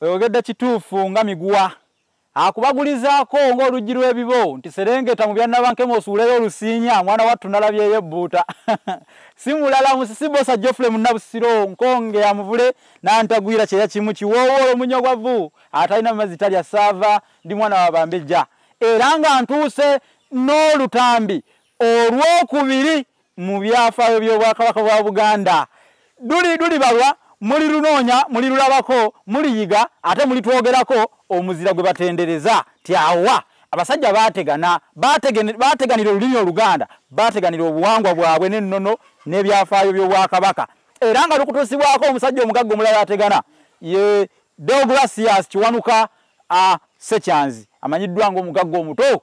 oyogedde kituufu nga miguwa akubagulizaako ng'oluggi lw'ebibo nti serengeta mu byannabankema osuuleyo olusiinya mwana wattu nalabyeyo ebbuuta si mulala musisi bosa jofule munnabusiro nkonge amuvule nantagwira kyeya kimu kiwoowoola omunya ogwavu atalina mazzi talya saava ndi mwana wabambejja era nga ntuuse n'olutambi Olw'okubiri mu byafaayo by'Obwakabaka bwa Buganda. Duli duli balwa, muli lunoonya, muli lulabako, muli yiga, ate muli twogerako omuzira gwe batendereza. Tyawa. Abasajja baategana, baateganira olulimi Oluganda, baateganira obuwangwa bwabwe n'ennono n'ebyafaayo by'Obwakabaka. Era nga lukutuusibwako omusajja omugagga omulala ategana ye Deogratias Kiwanuka Ssekyanzi amanyiddwa ng'omugagga omuto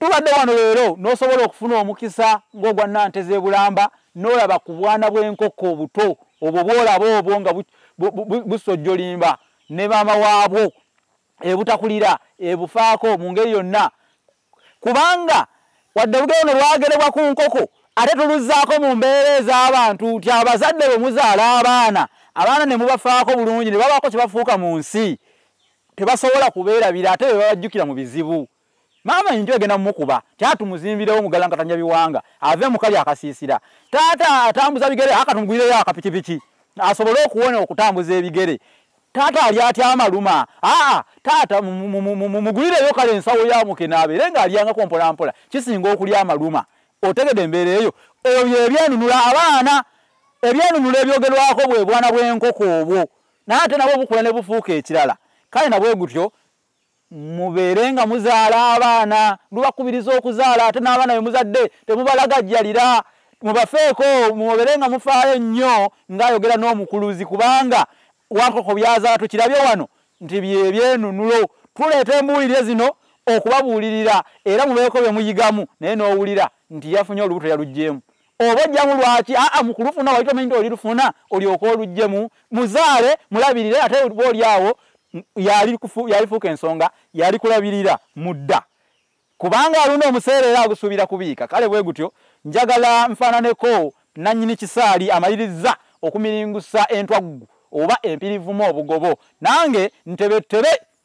Tubadde wano leero n'osobola okufuna omukisa ng'ogwa Nante z'e Bulamba n'olaba ku bwana bw'enkoko obuto obwo bw'olaba obwo nga busojjolimba ne maama waabwo ebutakulira ebufaako mu ngeri yonna kubanga wadde olugero no lwagerebwa ku nkoko ate tuluzzaako mu mbeera ez'abantu nti abazadde bwe muzaala abaana abaana ne mubafaako bulungi ne babaako kye bafuuka mu nsi tebasobola kubeerabira ate be babajjukira mu bizibu maama enju egenda mumukuba kyatumuzimbirewo mugalankatanya biwanga ave mukali akasiisira taata atambuza bigere akatumugwireyo akapikipiki asobole okuwona okutambuza ebigere taata ali atya amaluma aa taata mumugwireyo kale ensawo yamukenaabe era nga alyangako mpolampola kisinga okulya amaluma otegede embeera eyo ebyo ebyenunula abaana ebyenunula ebyogerwako bwe bwana bw'enkoko obwo naye ate nabwo bukula ne bufuuka ekirala kale nabwe gutyo mubeere nga muzaala abaana lubakubiriza okuzaala ate n'abaana bemuzadde temubalagajjalira mubafeeko mubeere nga mufaayo nnyo ng'ayogera n'omukuluzi kubanga wankoko byazaala tukirabye wano nti byebyenunulo tuleeta embuulire zino okubabuulirira era mubeeko bye muyigamu naye n'owulira nti yafunye olubuto yaluggyemu oba ojjamu lwaki aa mukulufuna wali tomanyi nti oli lufuna olyoka olujjemu muzaale mulabirire ate oba oli awo yalifuuka ensonga yali kulabirira mudda kubanga alunda omuseera era agusuubira kubiika kale bwe gutyo njagala nfaananeko nannyini kisaali amalirizza okumiringusa entwaggu oba empirivumu obugobo nange ntebettebe